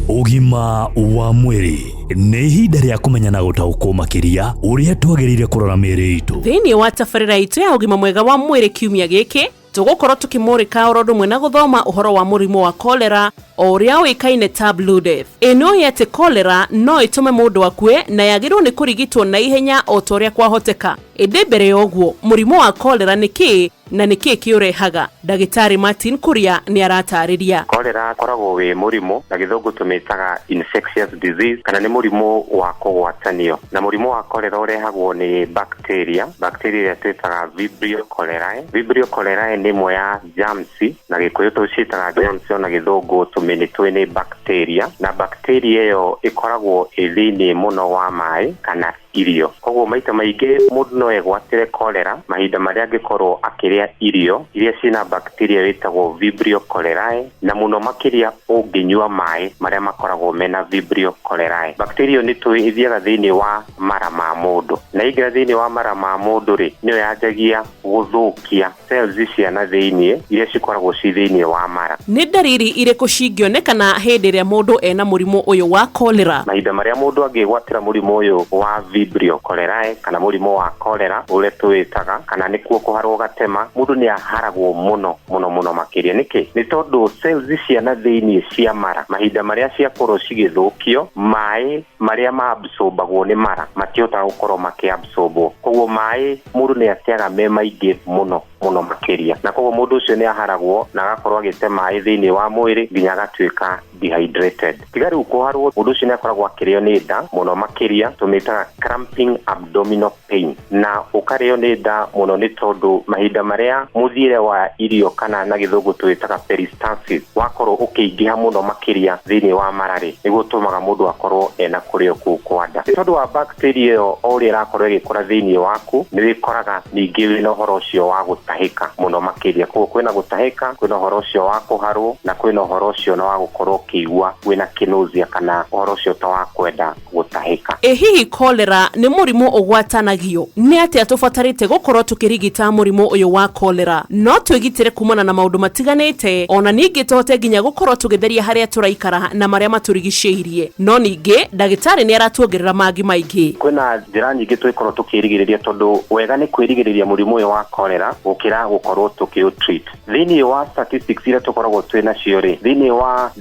Ũgima wa mwĩrĩ nĩ ihinda rĩa kũmenya na gũtaũkwo makĩria ũrĩa twagĩrĩire kũrora mĩĩrĩ itũ. thĩinĩ wa tabarĩra itũ ya ũgima mwega wa mwĩrĩ kiumia gĩkĩ tũgũkorwo tũkĩmũrĩka oro ũndũ ũmwe na gũthoma ũhoro wa mũrimũ wa kolera o ũrĩa ũĩkaine ta Blue Death. ĩnũĩ atĩ kolera no ĩtũme mũndũ akue na yagĩrĩirwo nĩ kũrigitwo na ihenya o ta ũrĩa kwahoteka ĩndĩ mbere ya ũguo mũrimũ wa kolera nĩ kĩĩ Na nĩ kĩĩ kĩũrehaga? Ndagĩtarĩ Martin Kuria nĩ arataarĩria. Cholera ũkoragwo wĩ mũrimũ, na gĩthũngũ tũmĩtaga infectious disease, kana nĩ mũrimũ wa kũgwatanio. Na mũrimũ wa cholera ũrehagwo nĩ bacteria, bacteria ĩrĩa twĩtaga vibrio cholerae. Vibrio cholerae nĩ ĩmwe ya germs, na gĩkũyũ tũciĩtaga germs ona gĩthũngũ tũmĩnĩtũĩ nĩ bacteria. Na bacteria ĩyo ĩkoragwo ĩ thĩiniĩ mũno wa maaĩ kana irio. Kwoguo maita maingĩ mũndũ no egwatĩre cholera mahinda marĩa angĩkorũo akĩrĩa irio iria cirĩ na bacteria ĩyo ĩtagwo Vibrio cholerae, na mũno makĩria ũngĩnyua maĩ marĩa makoragwo mena Vibrio cholerae. Bacteria ĩyo nĩ tũĩ ĩthiaga thĩinĩ wa mara ma mũndũ, na yaingĩra thĩinĩ wa mara ma mũndũ-rĩ, nĩyo yanjagia gũthũkia. cells cia na thĩinĩ iria cikoragwo ci thĩinĩ wa mara. Nĩ ndariri irĩkũ cingĩonekana hĩndĩ ĩrĩa mũndũ ena mũrimũ ũyũ wa cholera? Mahinda marĩa mũndũ angĩgwatĩra mũrimũ ũyũ wa Vibrio cholerae kana mũrimũ wa cholera ũrĩa tũwĩtaga kana nĩkuo kũharwo gatema, mũndũ nĩ aharagwo mũno mũno mũno makĩria. Nĩkĩ? Nĩ tondũ cells cia na thĩinĩ cia mara mahinda marĩa ciakorwo cigĩthũkio, maĩ marĩa ma absorb agwo nĩ mara matihotaga gũkorwo makĩ absorb wo koguo maĩ mũndũ nĩ ateaga me maingĩ mũno mũno makĩria na koguo mũndũ ũcio nĩ aharagwo na agakorwo agĩte maĩ thĩinĩ wa mwĩrĩ nginya agatuĩka dehydrated tiga rĩu kũharwo mũndũ ũcio nĩ akoragwo akĩrĩo nĩ nda mũno makĩria tũmĩtaga cramping abdominal pain na ũkarĩo nĩ nda mũno nĩ tondũ mahinda marĩa mũthiĩre wa irio kana na gĩthũngũ twĩtaga peristalsis wakorwo ũkĩingĩha mũno makĩria thĩinĩ wa mararĩ nĩguo ũtũmaga mũndũ akorwo ena kũrĩo kũu kwa nda nĩ tondũ wa bacteria ĩyo o ũrĩa ĩrakorwo ĩgĩkũra thĩinĩ waku nĩ wĩkoraga ningĩ wĩna ũhoro ũcio wa gũtahĩka mũno makĩria koguo kwĩna gũtahĩka kwĩna ũhoro ũcio wa kũharwo na kwĩna ũhoro ũcio na wa gũkorwo ũkĩigua wĩna kĩnũzia kana ũhoro ũcio ta wa kwenda gũtahĩka. Ĩ hihi cholera nĩ mũrimũ ũgwatanagio? Nĩ atĩa tũbatarĩte gũkorũo tũkĩrigita mũrimũ ũyũ wa cholera? No twĩgitĩre kuumana na maũndũ matiganĩte, o na ningĩ tũhote nginya gũkorũo tũgĩtheria harĩa tũraikara na marĩa matũrigicĩirie. No ningĩ ndagĩtarĩ nĩ aratuongerera mangĩ maingĩ. Kwĩna njĩra nyingĩ tũngĩkorũo tũkĩĩrigĩrĩria tondũ wega nĩ kwĩrigĩrĩria mũrimũ ũyũ wa cholera gũkĩra gũkorũo tũkĩũ treat. thĩinĩ wa statistics iria tũkoragwo twĩ nacio rĩ thĩinĩ wa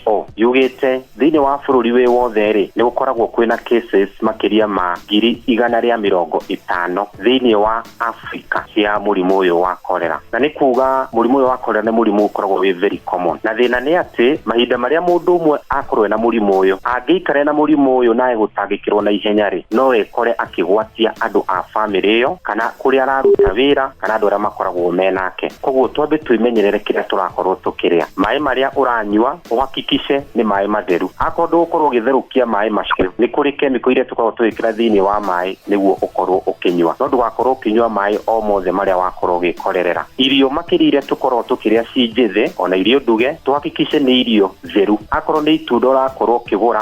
who yugĩte thĩinĩ wa bũrũri wĩ wothe rĩ nĩ gũkoragwo kwĩna cases makĩria ma ngiri igana rĩa mĩrongo ĩtano thĩinĩ wa africa cia mũrimũ ũyũ wa korera na nĩ kuga mũrimũ ũyũ wa korera nĩ mũrimũ ũkoragwo wĩ very common na thĩna nĩ atĩ mahinda marĩa mũndũ ũmwe akorwo ena mũrimũ ũyũ angĩikare na mũrimũ ũyũ naye gũtangĩkĩrwo na ihenya rĩ no ekore akĩgwatia andũ a bamĩrĩ ĩyo kana kũrĩa araruta wĩra kana andũ arĩa makoragwo me nake. Koguo twambe twĩmenyerere kĩrĩa tũrakorwo tũkĩrĩa. Maĩ marĩa ũranyua ũhakikice nĩ maĩ matheru. Akorwo ndũgũkorwo ũgĩtherũkia maĩ macio, nĩ kũrĩ kemiko iria tũkoragwo tũgĩkĩra thĩinĩ wa maĩ nĩguo ũkorwo ũkĩnyua. No ndũgakorwo ũkĩnyua maĩ o mothe marĩa wakorwo ũgĩkorerera. Irio makĩria iria tũkoragwo tũkĩrĩa ci njĩthĩ, ona irio nduge, tũhakikice nĩ irio theru. Akorwo nĩ itunda ũrakorwo ũkĩgũra,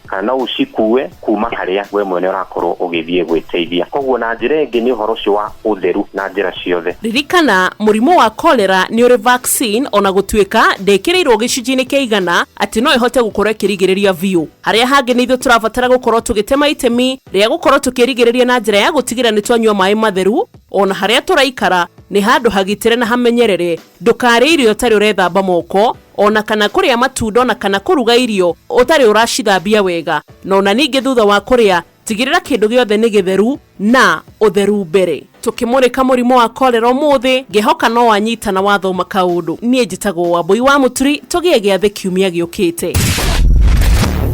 kana no ũcikue kuma harĩa we mwene ũrakorwo ũgĩthiĩ gwĩteithia koguo na njĩra ĩngĩ nĩ ũhoro ũcio wa ũtheru na njĩra ciothe ririkana mũrimũ wa cholera nĩ ũrĩ vaccine ona gũtuĩka ndĩkĩrĩirwo gĩcunjĩ-inĩ kĩa igana atĩ no ĩhote gũkorwo ĩkĩrigĩrĩria biũ harĩa hangĩ nĩ ithuĩ tũrabatara gũkorwo tũgĩtema itemi rĩa gũkorwo tũkĩrigĩrĩria na njĩra ya gũtigĩrĩra nĩ twanyua maĩ matheru ona harĩa tũraikara nĩ handũ hagitĩre na hamenyerere ndũkarĩe irio ũtarĩ ũrethamba moko o na kana kũrĩa matunda o na kana kũruga irio ũtarĩ ũracithambia wega, na o na ningĩ thutha wa kũrĩa tigĩrĩra kĩndũ gĩothe nĩ gĩtheru na ũtheru mbere. Tũkĩmũrĩka mũrimũ wa cholera ũmũthĩ, ngehoka no wanyita na wathoma kaũndũ. Niĩ njĩtagwo Wambũi wa Mũturi, tũgĩe gĩathĩ kiumia gĩũkĩte.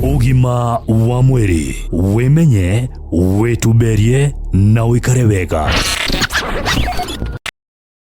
Ũgima wa mwĩrĩ, wĩmenye, wĩtumberie na ũikare wega.